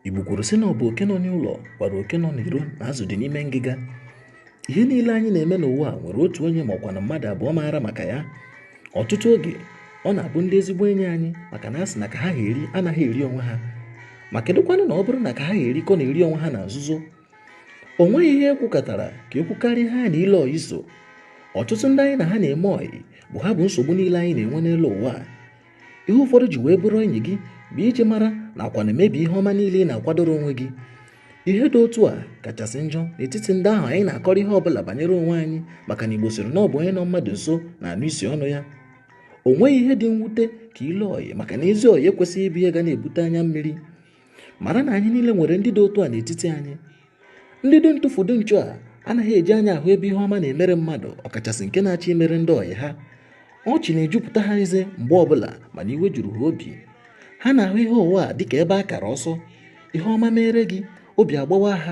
Igbo kwuru sị na ọ bụ oke nọ n'ụlọ gwara oke nọ n'iro na azụ dị n'ime ngịga ihe niile anyị na-eme n'ụwa a nwere otu onye ma ọkwanụ mmadụ abụọ maara maka ya ọtụtụ oge ọ na-abụ ndị ezigbo enyi anyị maka na a sị na ka ha eri anaghị eri onwe ha ma kedụkwanụ na ọ bụrụ na ka ha eri kọ na-eri onwe ha na nzuzo o nweghị ihe e kwukatara ka e kwukarịa ya na ilo ọyị so ọtụtụ ndị anyị na ha na-eme ọyị bụ ha bụ nsogbu niile anyị na-enwe n'elu ụwa ihe ụfọdụ ji wee bụrụ enyi gị bụ iji mara nakwanụ mebie ihe ọma niile ị na-akwadoro onwe gị ihe dị otu a kachasị njọ n'etiti ndị ahụ anyị na-akọrọ ihe ọbụla banyere onwe anyị maka na Igbo sịrị na ọ bụ onye nọ mmadụ nso na-anụ isi ọnụ ya o nweghị ihe dị mwute ka ilo ọyị maka na ezi ọyị ekwesịghị ịbụ ihe ga na-ebute anya mmiri mara na anyị niile nwere ndị dị otu a n'etiti anyị ndị dị ntụfu dị nchụ ha anaghị eji anya ahụ ebe ihe ọma na-emere mmadụ ọkachasị nke na-achọ imere ndị ọyị ha ọchị na-ejupụta ha eze mgbe ọbụla mana iwe juru ha obi ha na-ahụ ihe ụwa a dịka ebe a kara ọsọ ihe ọma mere gị obi agbawa ha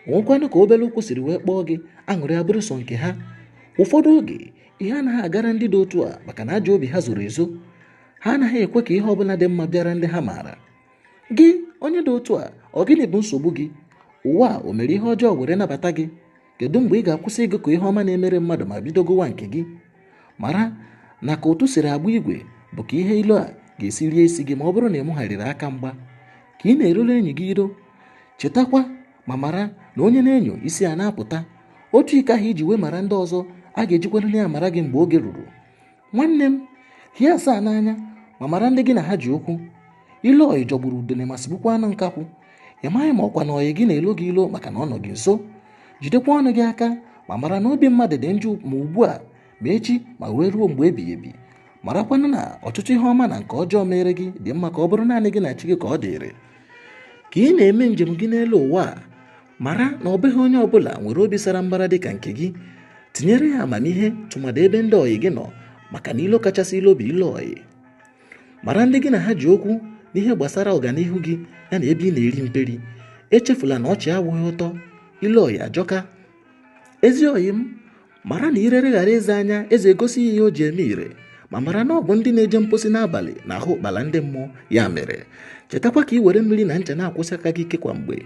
o nwekwanụ ka obere ụkwụ siri wee kpọọ gị aṅụrị abụrụ sọ nke ha ụfọdụ oge ihe anaghị agara ndị dị otu a maka na ajọ obi ha zoro ezo ha anaghị ekwe ka ihe ọbụla dị mma bịara ndị ha maara gị onye dị otu a ọ gịnị bụ nsogbu gị ụwa a o mere ihe ọjọọ were nabata gị kedu mgbe ị ga-akwụsị ịgụ ka ihe ọma na-emere mmadụ ma bido gụwa nke gị mara na ka ụtụ siri agba igwe bụ ka ihe ilo a ga-esi rie isi gị ma ọ bụrụ na i megharịghị aka mgba ka ị na-erule enyi gị iro chetakwa ma mara na onye na-enyo isi ya na-apụta otu iko ahụ i ji wee mara ndị ọzọ a ga-ejikwarịrị ya mara gị mgbe oge ruru nwanne m hie asaa n'anya ma mara ndị gị na ha ji okwu ilo ọyị jọgburu udene ma sigbukwa anụ nkakwụ ị maghị ma ọkwanụ ọyị gị na-elo gị ilo maka na ọ nọ gị nso jidekwa ọnụ gị aka ma mara na obi mmadụ dị njọ ma ugbu a ma echi ma wee ruo mgbe ebighị ebi marakwanụ na ọtụtụ ihe ọma na nke ọjọọ mere gị dị mma ka ọ bụrụ naanị gị na chi gị ka ọ dịrị ka ị na-eme njem gị n'elu ụwa a mara na ọ bụghị onye ọbụla nwere obi sara mbara dị ka nke gị tinyere ya amamihe tụmadị ebe ndị ọyị gị nọ maka na ilo kachasị ilo bụ ilo ọyị mara ndị gị na ha ji okwu n'ihe gbasara ọganihu gị ya na ebe ị na-eri mperi echefula na ọchị awụghị ụtọ ilo ọyị ajọka ezi ọyị m mara na ire leghara eze anya eze egosi ihe o ji eme ire ma mara na ọ bụ ndị na-eje mposi n'abalị na-ahụ ụkpala ndị mmụọ ya mere chetakwa ka ị were mmiri na ncha na-akwọsi aka gị ike kwa mgbe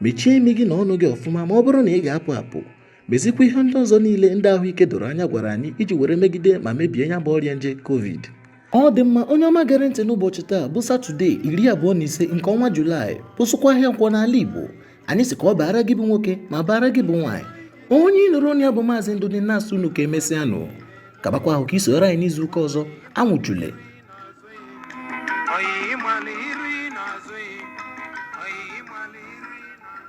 mechie imi gị na ọnụ gị ọfụma ma ọ bụrụ na ị ga-apụ apụ mezikwa ihe ndị ọzọ niile ndị ahụike doro anya gwara anyị iji were megide ma mebie ya bụ ọrịa nje covid ọ dị mma onye ọma gere ntị n'ụbọchị taa bụ satọde iri abụọ na ise nke ọnwa julaị bụzịkwa ahịa nkwọ n'ala igbo anyị sị ka ọ baara gị bụ nwoke ma baara gị bụ nwaanyị onye ị nụrụ olu ya bụ maazị ndụdị na-asị unu ka emesịanụ kabakwa ahụ ka i soro anyị n'izu ụka ọzọ anwụchule